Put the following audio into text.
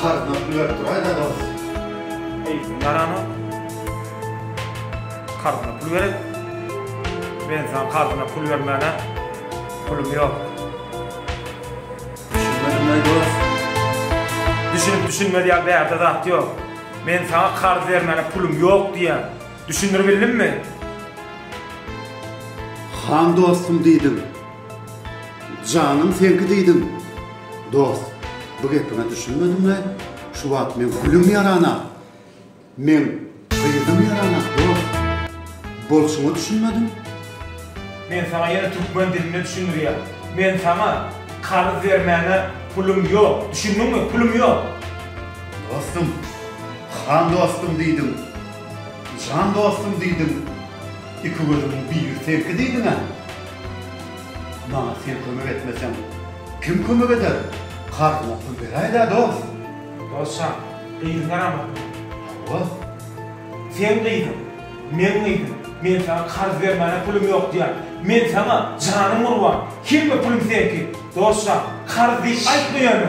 Karznap ýörüp duraý dados. Eýsin garana karzyna pul gerek. Men saňa karzyna pul bermäne pulum ýok. Düşünmedim eý dos. Düşünip düşünmez ýaly bärde zat ýok. Men saňa karz bermäne pulum ýok diýýän. Düşündiribildimmi? Han dostum diýdim. Janym seňki diýdim. Dost, bu gepiňe düşünmedim we şu wagt meň gülüm ýaranak. Meň gyzym ýaranak, dost. Bolşuňa düşünmedim. Men saňa ýene türkmen dilinde düşündirýän. Men saňa karyz bermäne pulum ýok. Düşündiňmi? Pulum ýok. Dostum, han dostum diýdim. Jan dostum diýdim. Iki gözümiň biri seňki diýdiň-ä. Maňa sen kömek etmeseň, kim kömek eder? Karzyňa pul beräý-dä, dost! Dostjan, gyzyň garamasyn. Hawa. Seň gyzyň, meň gyzym. Men saňa karz bermäne pulum ýok diýýän. Men saňa, janym gurban, hemme pulum seňki. Dostjan, karz diýip aýtma ýöne.